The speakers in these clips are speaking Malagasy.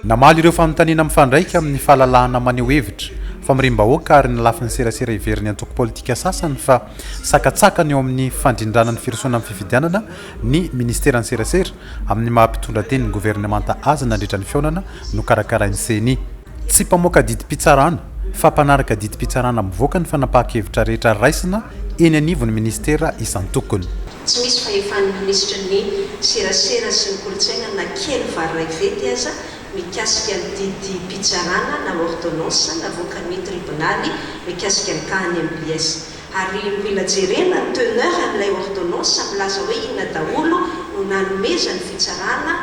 Namaly ireo fanontaniana mifandraika amin'ny fahalalahana maneho hevitra, famoriam-bahoaka ary ny lafiny serasera heverin'ny antoko politika sasany fa sakatsakana eo amin'ny fandrindrana ny firosoana amin'ny fifidianana ny Ministeran'ny Serasera amin'ny maha mpitondra tenin'ny governemanta azy nandritra ny fihaonana nokarakarain'ny ceni. Tsy mpamoaka didim-pitsarana fa mpanaraka didim-pitsarana mivoaka ny fanapahan-kevitra rehetra raisina eny anivon'ny Ministera isan-tokony. Tsy misy fahefan'ny minisitry ny Serasera sy ny kolontsaina na kely vary iray vety aza mikasika ny didim-pitsarana na ordonnance navoakan'ny tribonaly mikasika ny tahan'ny mbs. Ary mila jerena ny teneur an'ilay ordonnance milaza hoe inona daholo no nanomezan'ny fitsarana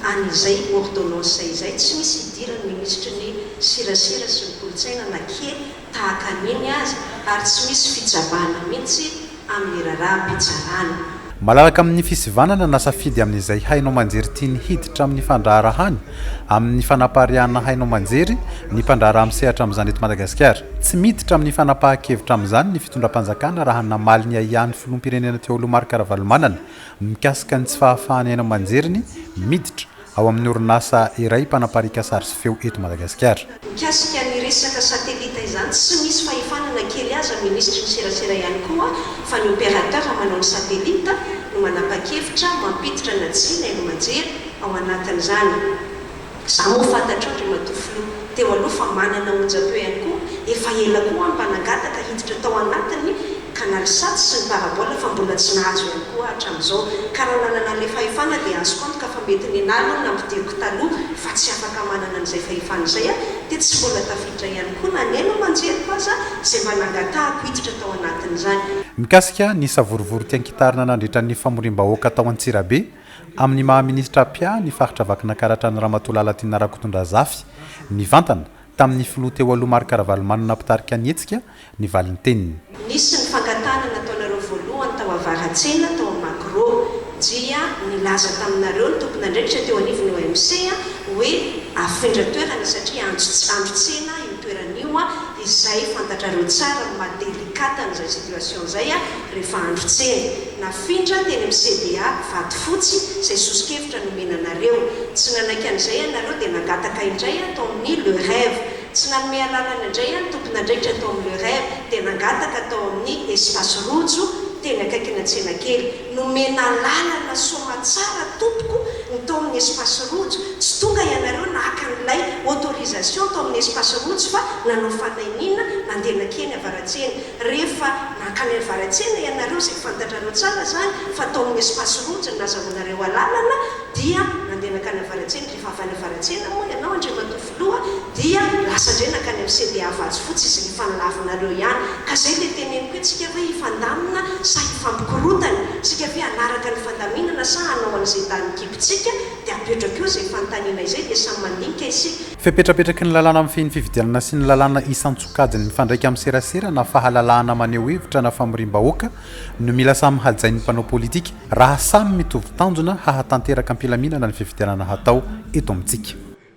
an'izay ordonnance izay. Tsy misy idiran'ny minisitry ny Serasera sy ny kolontsaina na kely tahaka ny iny aza ary tsy misy fitsabahana mihitsy amin'ny raharaham-pitsarana. Malalaka amin'ny fisivanana na safidy amin'izay haino aman-jery tiany hiditra amin'ny fandraharahany amin'ny fanapariahana haino aman-jery ny mpandraharaha misehatra amin'izany eto Madagasikara. Tsy miditra amin'ny fanapahan-kevitra amin'izany ny fitondram-panjakana raha namaly ny ahiahin'ny filoham-pirenena Ntiaolo Marc Ravalomanana mikasika ny tsy fahafahan'ny haino aman-jeriny miditra ao amin'ny orinasa iray mpanapariaka sary sy feo eto Madagasikara. Mikasika ny resaka satelita izany, tsy misy fahefana na kely aza ny minisitry ny serasera ihany koa fa ny opérateur manao ny satelita no manapa-kevitra mampiditra na tsia ny hailomanjery ao anatin'izany. Izaho moa fantatrao, Andriamatoa Filoha. teo aloha fa manana onjam-peo ihany koa, efa ela koa aho mba nangataka hiditra tao anatiny ka na lisats sy ny parabola fa mbola tsy nahazo ihany koa aho hatramin'izao, ka raha nanana an'ilay fahefana dia azoko antoka fa mety nenaha aloha ny nampidiriko taloha fa tsy afaka manana an'izay fahefana izay aho, dia tsy mbola tafiditra ihany koa na ny aina aman-jeriko aza izay mba nangatahako hiditra tao anatin'izany. Mikasika ny savorovoro tian-kitarina nandritra ny famoriam-bahoaka tao Antsirabe, Amin'ny maha minisitra mpia ny faritra Vakinakaratra an'i Ramatoa Lalatiana Rakotondrazafy, nivantana, tamin'ny filoha teo aloha Marc Ravalomanana mpitarika ny hetsika, ny valinteniny. Nisy ny fangatahana nataonareo voalohany tao Avaratsena, tao amin'ny Magro. Dia nilaza taminareo ny tompon'andraikitra teo anivon'ny OMC hoe afindra toerana satria andro andro tsena io toerana io izay fantatrareo tsara ny maha délicate an'izay situation izay. Rehefa andro tsena, nafindra teny amin'ny CBA Vatofotsy izay soso-kevitra nomena anareo. Tsy nanaiky an'izay ianareo dia nangataka indray aho tao amin'ny Le Rêve. Tsy nanome alalana indray aho ny tompon'andraikitra tao amin'ny Le Rêve dia nangataka tao amin'ny Espace Rojo teny akaikina tsenakely. Nomena alalana soamatsara tompoko ny tao amin'ny Espace Rojo. Tsy tonga ianareo naka an'ilay autorisation tao amin'ny Espace Rojo fa nanao fanahiniana nandeha nankeny avaratsena. Rehefa mankany avaratsena ianareo izay fantatrareo tsara izany fa tao amin'ny espace rouge no nazahoanareo alalana dia nandeha nankany avaratsena, rehefa avy any avaratsena moa ianao Andriamatoa Filoha dia lasa indray nankany amin'ny CDA Vatsifotsy izay efa nilavinareo ihany. Ka izay ilay teneniko hoe tsika ve hifandamina sa hifampikorotana? Tsika ve hanaraka ny fandaminana sa hanao an'izay danin'ny kibontsika dia apetrako eo izay fanontaniana izay dia samy mandinika isika. Fepetrapetraky ny lalàna mifehy ny fifidianana sy ny lalàna isan-tsokajiny mifandraika amin'ny serasera na fahalalahana maneho hevitra na famoriam-bahoaka no mila samy hajain'ny mpanao politika raha samy mitovy tanjona hahatanteraka am-pilaminana ny fifidianana hatao eto amintsika.